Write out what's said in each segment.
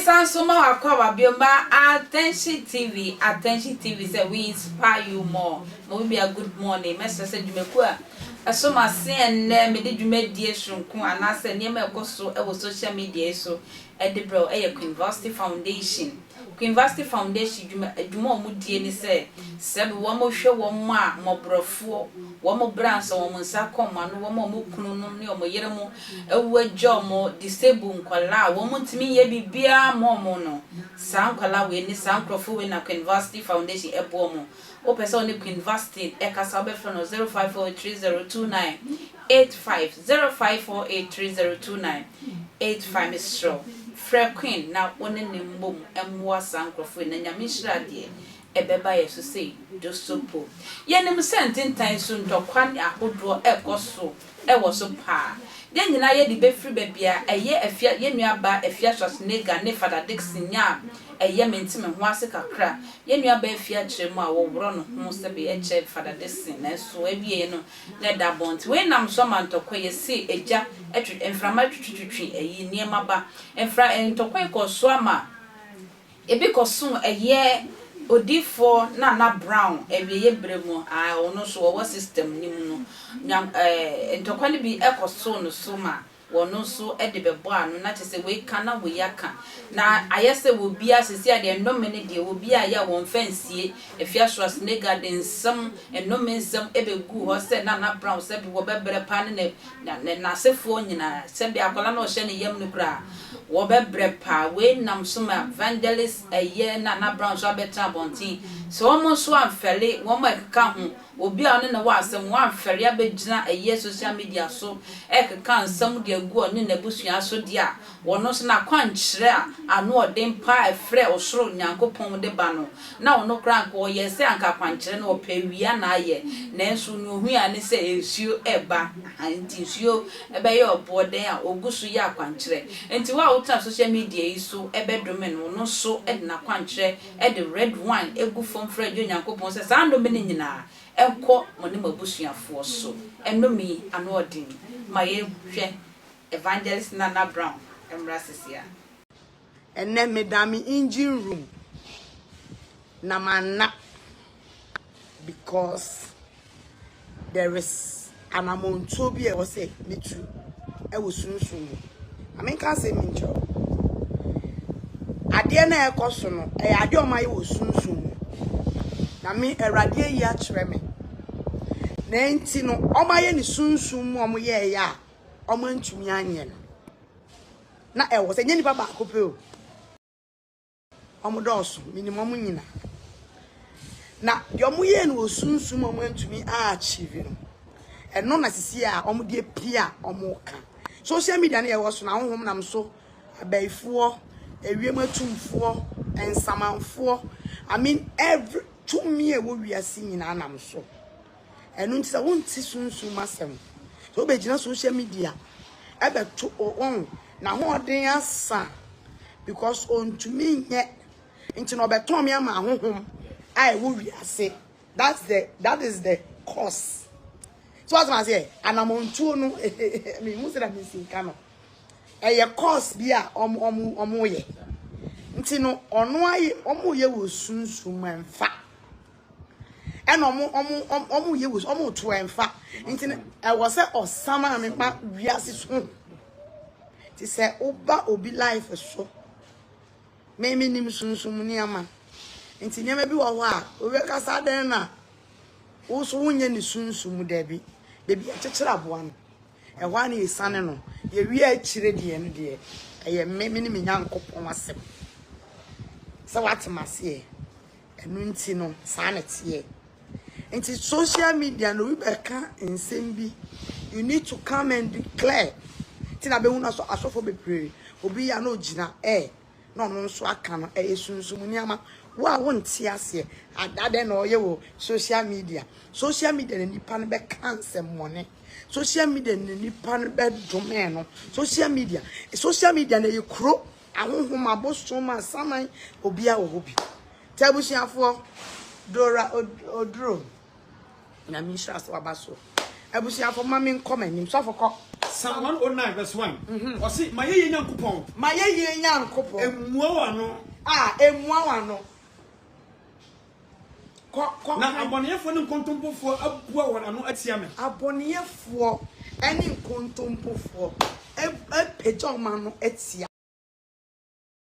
Mesan so ma w'akwaaba bio ma Attention TV, Attention TV sɛ we inspire you more. Momibia good morning. Mɛsrɛ sɛ dwumakuo a ɛso m'ase ɛnnɛ mede dwumadie soronko anaasɛ nneɛma a ɛkɔ so wɔ social media yi so de brɛw yɛ Queen Vasti Foundation. Queen Vasti Foundation dwuma adwuma a wɔdie ne sɛ sɛb wɔhwɛ wɔn a mmɔborɔfoɔ, wɔn bra nsa, wɔn nsa kɔm ano, wɔn a wɔn kunu nom ne wɔn yere mo awu agya wɔn, disabled nkwadaa a wɔn ntumi nyɛ biribiara mma wɔn no, saa nkwadaa wei ne saa nkorɔfoɔ wei na Queen Vasti Foundation boa wɔn. Wopɛ sɛ wo ne Queen Vastine kasa a, wobɛfrɛ no 0548302985, 0548302985. Mesrɛ wo, frɛ Queen na wo ne no mmom mmoa saa nkurɔfoɔ yi, na Nyame nhyira deɛ ɛbɛba yɛn so sei, Dwosopo. Yɛnim sɛ ntentan su ntɔkwa ne ahodoɔ rekɔ so. wɔ so paa. Yɛn nyinaa yɛde bɛfiri baabi a ɛyɛ Afia, yɛn nuabaa Afia Schwarzenegger ne Fada Dickson nya a ɛyɛ mente me ho ase kakra. Yɛn nuabaa Afia kyerɛ mu a wɔworɔ ne ho sɛ bɛyɛ kyɛ Fada Dickson nanso awieɛ no na ɛda abɔnten. Wei nam so ama ntɔkwa yi ɛse agya twe, mframa twitwitwitwi ayi nneɛma ba. Mfra, ntɔkwa yi kɔɔ so ama. Ebi kɔsom ɛyɛ odiyifoɔ Nana Brown awieɛ berɛ mu a ɔno nso ɔwɔ system no mu no, Nyan eh, ntɔkwa no bi kɔsoo no so ma ɔno nso de bɛbɔɔ ano, na kyerɛ sɛ wei ka na wei aka, na ayɛ sɛ wɔ biara seesei a deɛ nnome no deɛ wɔ biara yɛ a wɔmfa nsie, ɛfiri aso a Snake Garden nsɛm, nnome nsɛm bɛguu hɔ sɛ Nana Brown sɛbi wɔbɛbrɛ paa ne ne Na ne n'asefoɔ nyinaa, sɛdeɛ akwadaa no a ɔhyɛ ne yam no koraa, wɔbɛbrɛ paa. Wei nam so ma Evangelist Ɛyɛ ne Nana Brown nso abɛtena abɔnten. Sɛ wɔn nso amfɛre, wɔn a ɛkeka ho, obi a ɔne no wɔ asɛm, wɔamfɛre abɛgyina Ɛyɛ social media so rekeka nsɛm de agu ɔne n'abusua so deɛ a, Wɔno nso n'akwankyerɛ a ano ɔden paa a ɛfrɛɛ ɔsoro Nyankopɔn de ba no, na ɔno koraa anka ɔyɛ sɛ anka akwankyerɛ no ɔpɛ awia na ayɛ, nanso nea ohui ara ne sɛ nsuo reba, ahaa, enti nsuo bɛyɛ ɔboɔ dɛn a ɔgu so yɛ akwankyerɛ. Enti wo a wotena social media yi so bɛdome no, ɔno nso de n'akwankyerɛ de red wine gu fam frɛ gye Onyankopɔn sɛ saa nnome no nyinaa nkɔ mo ne mo abusuafoɔ so. Nnome yi ano ɔden ma yɛhwɛ Evangelist Nana Brown mmra sesiaa. Ɛnnɛ meda me engine room na manna because there is anamɔntuo bi a ɛwɔ sɛ metu wɔ sunsum mu. Ma menka asɛm bi nkyerɛ wo. Adeɛ no a ɛrekɔ so no, ɛyɛ adeɛ a wɔayɛ wɔ sunsum mu. Na me, Awurade ayi akyerɛ me. Na enti no, wɔayɛ no sunsum mu a wɔyɛeɛ a, ɔmo antumi anyɛ no na ɛwɔ sɛ nyɛ nipa baako pɛ o ɔmo dɔɔso minim ɔmo nyina na deɛ ɔmo yɛ no wɔ sunsum ɔmo antumi achieve no ɛno na sisi a ɔmo de apia ɔmo ka social media no yɛwɔ so na ahohom nam so abɛɛfoɔ ewiem atumfoɔ nsamanfoɔ i mean every tumi a ɛwɔ wiase nyinaa nam so Ɛno nti sɛ wonte sunsum mu asɛm sɛ wobɛgyina social media ɛbɛto on n'ahoɔden asa because ɔntumi nyɛ nti na ɔbɛtɔn me ama ahohom a ɛwɔ wiase that's the that is the cause so asɛm aseɛ anamɔntuo no mehu sɛ na mensinka no ɛyɛ cause bi a ɔmo ɔmo ɔmo yɛ nti no ɔno ayɛ ɔmo yɛ wɔ sunsum mu ɛmfa ɛna ɔmo ɔmo ɔmo yɛ wusu ɔmo to ɛnfa nti ɛwɔ sɛ ɔsam a mepa wiase so ti sɛ ɔba obi life so mɛmi nim sunsun mu nneɛma nti nneɛma bi wɔ hɔ a obi kasa dɛn na woso wonyɛ ne sunsun mu dɛbi bebi akyekyere aboa no. Ɛhɔ ara na yɛsiane no. Yɛwie a akyire deɛ no deɛ, ɛyɛ me, me ne me Nyankopɔn asɛm. Sɛ woate m'aseɛ? Ɛno nti no, saa na ɛteɛ. Nti social media no, obi bɛka nsɛm bi, you need to come and declare. Nti na bɛhu no asɔfoɔ bebree, obi yɛ a na ɔgyina, eh, na ɔno nso aka no ɛyɛ sunsum nneɛma wo a wonte aseɛ ada dɛn na ɔyɛ wɔ social media social media na nipa no bɛka nsɛmmɔne social media na nipa no bɛdome no social media social media na ɛyɛ kuro ahohom abosom asaman obi a wɔ hɔ bi tɛ abusuafoɔ dora oduro Nyame nhyira so aba so. Abusuafo ma me nkɔ m'anim. Sɔfo kɔ. Psalm 109 verse 1 ɔse mayɛyie Nyankopɔn. Mayɛyie Nyankopɔn. Ɛmmua w'ano. Ah ɛmmua w'ano. Kɔ kɔ. Na abɔneyɛfoɔ ne nkontompofoɔ abua wɔn ano atia me. Abɔneyɛfoɔ ne nkontompofoɔ apagya wɔn ano atia.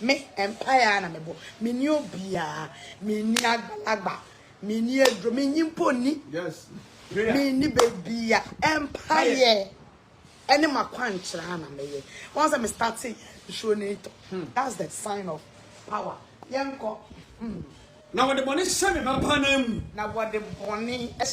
Me, mpaeɛ ara na mebɔ. Menni obiara. Menni agbalagba. Menni aduro. Menyi mpo nni. Menni baabiara. Mpaeɛ ɛne m'akwankyerɛ ara na mɛyɛ. Wɔn sɛ me starte nsuo no retɔ. That's the sign of power. Yɛnkɔ. Na wɔde bɔne hyɛ me ba paa nan mu. Na wɔde bɔne hyɛ.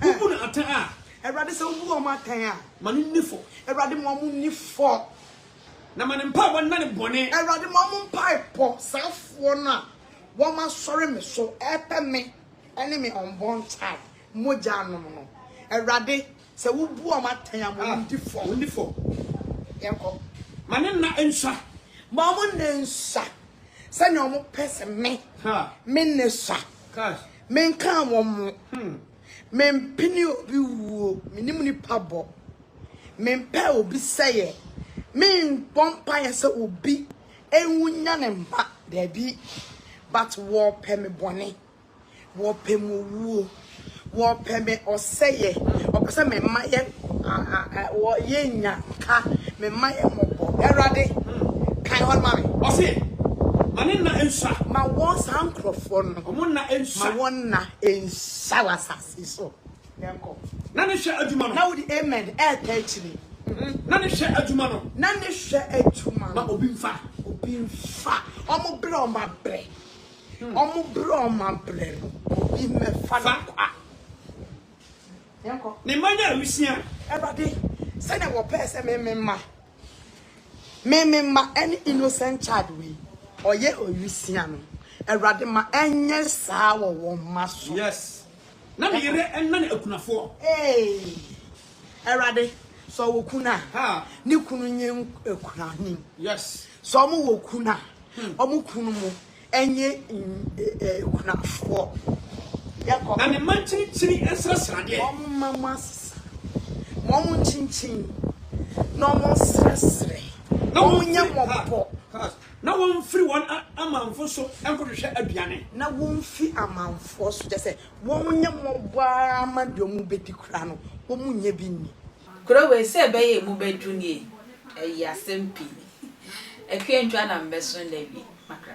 Wobu no atɛn a. Awurade sɛ wobu wɔn atɛn a. Ma no nni fɔ. Awurade ma wɔn nni fɔ. Na ma ne mpaebɔ nna ne bɔne. Awurade ma wɔn mpaebɔ. Saafoɔ no a wɔasɔre me so repɛ me ne me unborn child mogya anom no, Awurade Sɛ wo bu wɔn atɛn a, ma wɔn di fɔ. Wɔn di fɔ. Yɛn kɔ. Ma ne nna nsua. Ma wɔn nna nsua. Sɛ nea wɔn pɛ sɛ me. Ha. Me nna sua. Cash. Me nkaa wɔn mo. Hmm. Me mpene obi wuo. Me nim nipa bɔ. Me mpɛ obi sɛyɛ. Me nbɔ mpaeɛ sɛ obi. Enwu nya ne mma. Daabi. But wɔpɛ me bɔne. Wɔpɛ mo wuo. Wɔpɛ me ɔsɛeɛ. Wɔpɛ sɛ me mma yɛ wɔ yɛnnya ka. Me mma yɛ mmɔbɔ. Awurade, kan hɔ no ma me. Ɔse, Ma ne nna nsua. Ma wɔn, saa nkurɔfoɔ no. Wɔn nna nsua. Ma wɔn nna nsua wɔ asase so. Yɛnkɔ. Na ne hwɛ adwuma no. Na wode amen reta akyire. Na ne hwɛ adwuma no. Na ne hwɛ adwuma no. Ma obi mfa. Obi mfa. Wɔn brɛ wɔn abrɛ. Ɔmo brɛ ɔmo abrɛ no obi mmɛfa no kwa. Yɛnkɔ. Ne mma nyɛ awusia. Awurade, sɛnea wɔpɛɛ sɛ me me mma, me me mma ɛne innocent child wei ɔyɛ ɔwusia no, Awurade ma ɛnyɛ saa wɔ wɔn mma so. Yes. Na me yere ɛnane akunafoɔ. Eeii. Awurade, sɛ ɔwɔ kunu a, Haa. ne kunu nyɛ akunafoɔ. Yes. Sɛ ɔmo wɔ kunu a, Wɔn kununom nyɛ nkunafoɔ. Na ne mma nkyinkyini nsrasradeɛ. Wɔmma mu asesa, ma wɔnkyinkyin na wɔnsrɛsrɛ, na wɔnyɛ mmɔbɔ. Na wɔmfiri wɔn amanfo so nkɔhwehwɛ aduane. Na wɔmfi amanfoɔ so, kyerɛ sɛ, wɔnyɛ mmɔbɔ ara ma deɛ wɔbɛdi koraa no, wɔnnya bi nni. Kuro wei, sɛ ɛbɛyɛ a emu bɛdwo nie, ayi asɛm pii. Akua ntwa na mbɛso nda bi makra.